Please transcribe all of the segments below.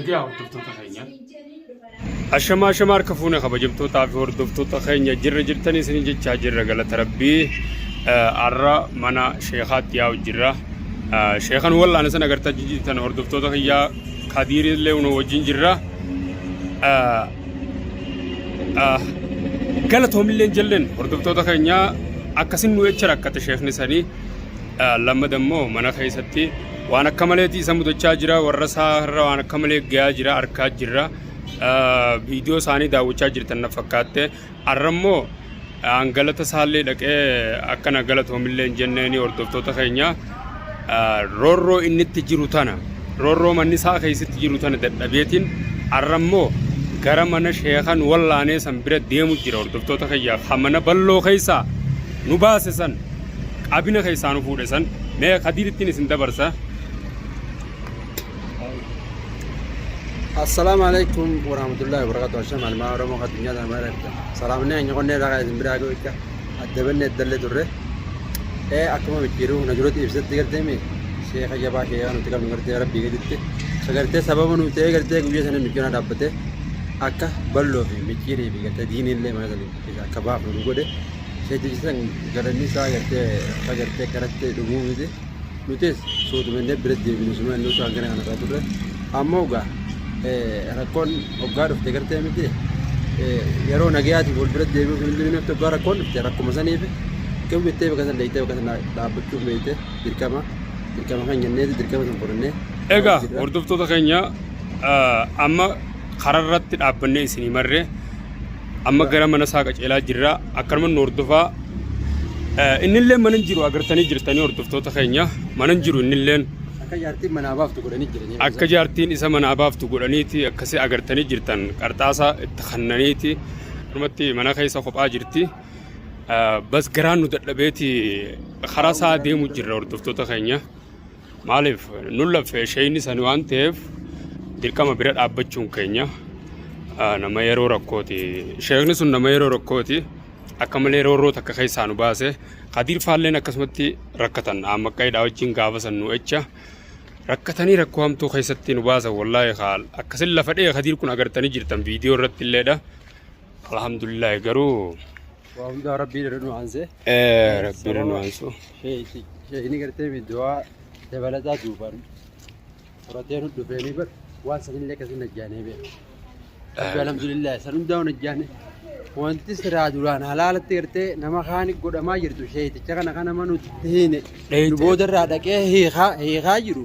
Egaa hordoftoota keenya. Ashamaa ashamaa harka fuune kabajamtootaa fi hordoftoota keenya jirra jirtanii isin jechaa jirra galata rabbii har'a mana sheekaatti yaa'u jirra. Sheekan wal'aan isin agartaa jijjiirtan hordoftoota kiyyaa kadiirii illee nu wajjin jirra. Galatoomillee jalleen hordoftoota keenya akkasin nu jecha rakkate sheekni sanii lammada immoo mana keessatti waan akka maleeti isa mudachaa jira warra isaa irra waan akka malee gayaa jira arkaa jirra viidiyoo isaanii daawwachaa jirtan na fakkaatte har'a immoo aan galata isaallee dhaqee akkana galatoomillee hin jenneeni hordoftoota keenya roorroo inni itti jiru tana roorroo manni isaa keessatti jiru tana dadhabeetiin har'a immoo gara mana sheekan wallaanee san bira deemu jira hordoftoota keenya kan mana balloo keessaa nu baase san Abina keessaa nu fuudhe san mee kadiirittiin isin dabarsa. Assalaamu alaikum warahmatullahi wabarakatuh. Hashem almaa Oromoo addunyaa kana mara jirta. Salaamni hanya qonnee irraa kan isin biraa ga'u jecha adda bannee iddallee turre. Ee akkuma micciiruu na duratti ibsatti gartee mee sheeka jabaa sheekaa nuti qabnu gartee rabbii gaditti. Isa gartee sababa nu ta'ee gartee guyyaa sana micciiruu na dhaabbatee akka balloo fi micciirii fi gartee diinii illee mana sana keessa akka baafnu nu godhe. Seetichi san garanii isaa gartee akka gartee karattee dhumuu miti. Nutis suutumannee bira deebinu suma inni osoo hangana kana irraa turre. Amma ogaa rakkoon oggaa dhufte gartee miti yeroo nagayaatiif wal bira deebi'uuf hin deebiin akka oggaa rakkoon dhufte rakkuma saniif kami bittee bakka san dheeytee bakka san dhaabbachuuf beeyte dirqama dirqama kan jenneeti dirqama san fudhannee. Egaa hordoftoota keenya amma karaa irratti dhaabbannee isinii marre amma gara mana isaa qaceelaa jirra akkanuma nu hordofaa Eh, innillee mana hin jiru agartanii jirtanii hordoftoota keenya mana hin jiru innilleen Akka jaartiin manaa baaftu godhanii jiranii. akka jaartiin isa manaa baaftu godhaniiti akkasi agartanii jirtan qarxaasaa itti kannaniiti dhumatti mana keessa kophaa jirti Eh, bas garaan nu dadhabeeti karaa isaa deemu jirra hordoftoota keenya Maaliif nun laffee sheeyni sani waan ta'eef dirqama bira dhaabbachuun keenya ah, nama yeroo rakkooti. Sheekni sun nama yeroo rakkooti akka malee roorroo takka keessaa nu baase. Kadiir faalleen akkasumatti rakkatan aammaqqaidhaa wajjin gaafa san nu echa. Rakkatanii rakkoo hamtuu keessatti nu baasan wallaahi kaal akkasin lafa dhee kadiir kun agartanii jirtan viidiyoo irratti illeedha. Alhamdulillah garuu Waa hundaa rabbii irra nu aansee. Eh, Rabbi irra nu aansu. Sheekni gartee du'aa dabalataa duubaan horatee nu dhufeenii bar waan sanillee akkasii najjaanee beeku. Rabbi alhamdulillah san hundaa waan najjaanee. Wanti siraa duraan halaalatti gartee nama kaani godhamaa jirtu sheeticha kana kana manutti hiine. Dheeyte. Nu boodarraa dhaqee hiikaa hiikaa jiru.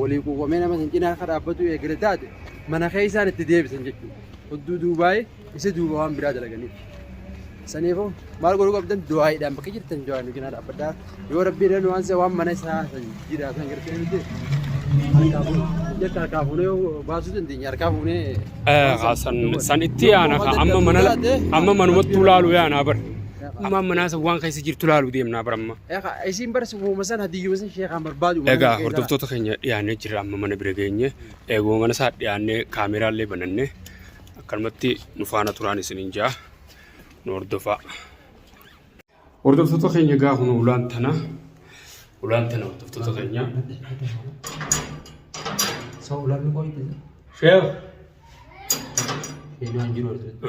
waliin quuqamee nama san cinaa akka dhaabbatuu eegale taate mana keessaan itti deebisan jechuudha. Odduu duubaa'ee isa duuba waan biraa dalaganiif. Saniifuu maal godhuu qabdan du'aayiidhaan bakka jirtan du'aayi nu cinaa dhaabbadhaa. Yoo rabbi irra nu aanse waan mana isaa san jiraa san gartee nuti harkaa fuunu. Jecha harkaa fuunee yoo baasuu dandeenya harkaa fuunee. San san itti yaana ka amma mana amma manumattuu laalu yaanaa bar. Amma manaa san waan keessa jirtu laalu deemnaa bar amma. Isiin bar sifuma san hadiyyuma san sheekaan barbaadu. Egaa hordoftoota keenya dhiyaannee jirra amma mana bira geenye eeguma mana isaa dhiyaannee kaameeraallee bananne akkanumatti nu faana turaan isiniin jaa nu hordofaa. Hordoftoota keenya egaa kun ulaan tana ulaan tana hordoftoota keenya. Soo ulaan nu qoyte. Sheekh. Eenyuun jiru asirratti.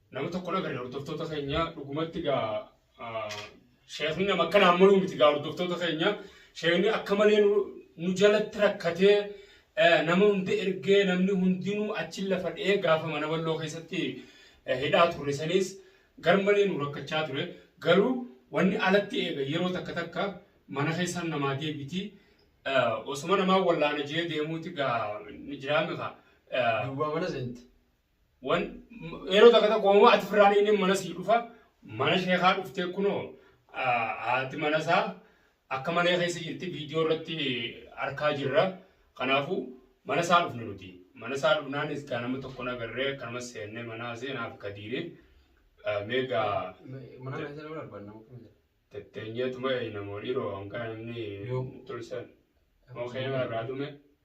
Nama tokko nagarre hordoftoota keenya dhugumatti gaa sheekni nama akka naan maluu miti gaa hordoftoota keenya sheekni akka malee nu jalatti rakkatee nama hunda ergee namni hundinuu achi lafa dhee gaafa mana walloo keessatti hidhaa turre saniis garmalee nu rakkachaa ture garuu wanni alatti eega yeroo takka takka mana keessaan namaa deebiti osuma namaa wallaana jee deemuuti gaa jiraame kaa duwwaa mana seente. Wan yeroo takka takka homaa ati firraan inni mana sii dhufa mana sheekaa dhuftee kunoo haati mana isaa akka malee keessa jirti viidiyoo irratti arkaa jirra. Kanaafuu mana isaa dhufne nuti. Mana isaa dhufnaan iskaa nama tokko nagarree akkanuma seennee mana haasee naaf kadiire meegaa Mana mana sana mana barbaadna muka miti. tetteenyeetuma eeyna moo dhiiroo hanga namni Yoo. tolchan moo keema irraa dhume.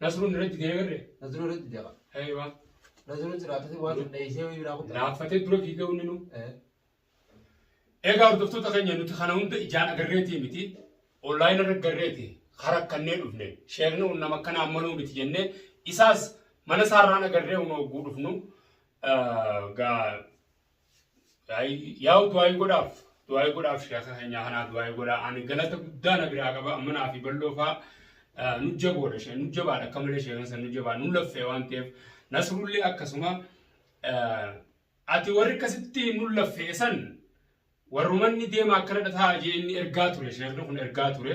Nasruu nirra didee agarre. Nasruu nirra didee qaba. Eeywa. Nasruu jiraatasi waan sun dheessee wayii biraa kutaa. Laaffatee dura fiigee hundi nu. Egaa hordoftoota keenya nuti kana hunda ijaan agarreetii miti. Online irra garreeti harakkannee dhufne. Sheekni kun nama akkanaa ammaluu miti jennee isaas mana isaarraan agarree hunoo guudhufnu. Gaa Yaa'u du'aayii godhaaf. Du'aayii godhaaf sheeka keenyaa kanaa du'aayii godhaa. Ani galata guddaa na biraa qaba. Amma naa fi bal'oo faa nu jaboodha. Shee nu jabaadha akka malee sheekan san nu jabaa nu laffee waan ta'eef. Nasrullee akkasuma ati warri akkasitti nu laffee san warrumanni deema akkana dhataa jee inni ergaa ture sheekni kun ergaa ture.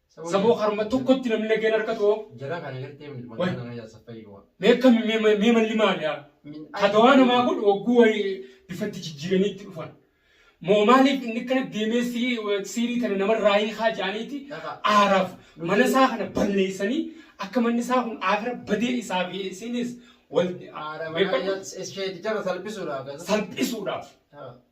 Saboo karma tokkotti namni nageen harkatu hoo? Jara kana gartee miti Wal- magaalaa kana jaarsa fayyoo. Mee akkam mee ma- mee malli maali yaa? Katawaa namaa kun hogguu wayii bifatti jijjiiraniitti dhufan. Moo maaliif inni kana deemee sii- siirii tana namarraa hiikaa jedhaniiti Dhaqa. aaraaf mana isaa kana balleessanii akka manni isaa kun aakira badee isaa fi isinis wal Haadha beekamu manaa ishee jara salphisuudha. akkasuma. salphisuudhaaf Dhaqa.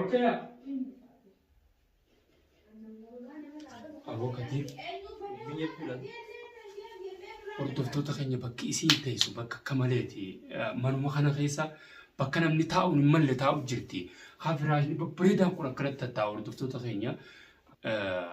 Okay. Aboo Kadir biyya kudhan hordoftoota keenya bakki isiin teessu bakka akka maleeti. Eh, Manuma kana keessa bakka namni taa'u hin malle taa'u jirti. Haa firaashni babbareedaan kun akkanatti tattaa'u hordoftoota keenya. Eh,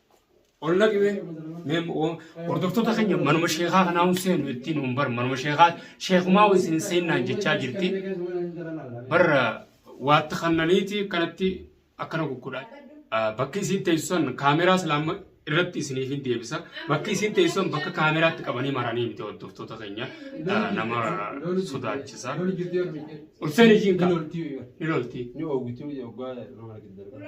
ol naqi mee mee o- hordoftoota keenya manuma sheekaa kanaa hin seenu ittiin hin bar manuma sheekaa sheekumaa wayis hin seennaan jechaa jirti barra waatti kannaniiti kanatti akkana kukkudhaa Ah, bakki isiin teessusan kaameraa islaama irratti isiniif hin deebisa bakki isiin teessusan bakka kaameraatti qabanii maranii miti hordoftoota keenya ah, nama sodaachisa ol seeni jiin kaa ni loltii Ni oguti hojii oggaa nama argite darba.